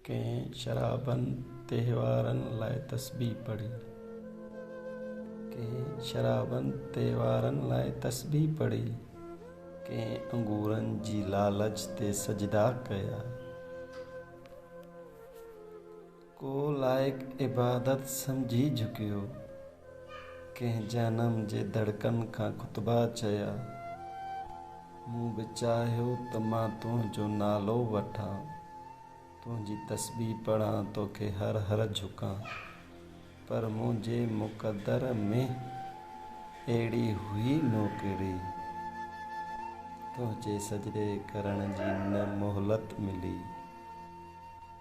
ڪنهن شرابن تهوارن لاء تسبيح پڙهي. ڪنهن شرابن تهوارن لاء تسبيح پڙهي. ڪنهن انگورن جي لالچ تي سجدا ڪيا. ڪو لائق عبادت سمجهي جهڪيو. ڪنهن جهنم جي دڙڪن کان خطبا چيا. مون به چاهيو ته مان تنهنجو نالو وٺان، تنهنجي تسبيح پڙهان توکي هر هر جهڪان. پر منهنجي مقدر ۾ اهڙي هئي نوڪري. تنهنجي سجدي ڪرڻ جي نه مهلت ملي.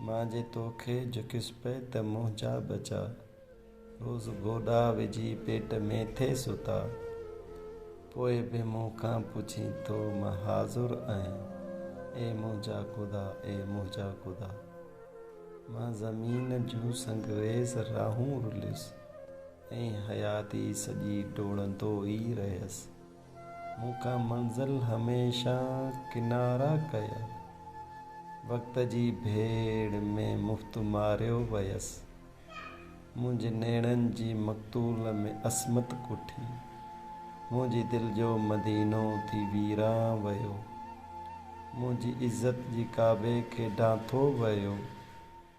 مان جي تو کي جهڪيس پئي ته منهنجا ٻچا روز گوڏا وجهي پيٽ ۾ ٿي ستا پوء به مون کان پڇين ٿو مان حاضر آهيان اي منهنجا خدا اي منهنجا خدا مان زمين جون سنگريز راهون رليس ۽ حياتي سڄي ڊوڙندو ئي رهيس. مون کا منزل هميشه ڪنارا ڪيا وقت جي ڀيڙ ۾ مفت ماريو ويس منهنجي نيڻن جي مقتول ۾ عصمت ڪٺي منهنجي دل جو مدينو ٿي ويران ويو منهنجي عزت جي ڪعبي کي ڊانٿو ويو.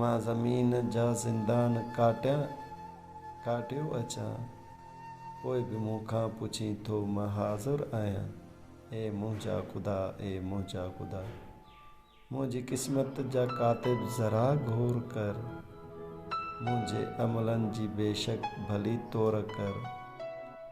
مان زمين جا زندان ڪاٽيان ڪاٽيو اچان پوء به مون کان پڇين ٿو مان حاضر آهيان اي منهنجا خدا اي منهنجا خدا منهنجي قسمت جا ڪاتب ذرا غور ڪر منهنجي عملن جي بيشڪ ڀلي طور ڪر.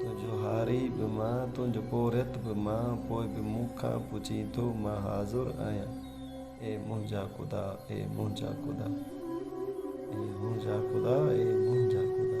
تنهنجو هاري به مان، تنهنجو پورهيت به مان، پوء به مون کان پڇين ٿو، مان حاضر آهيان، اي منهنجا خدا، اي منهنجا خدا، اي منهنجا خدا، اي منهنجا خدا.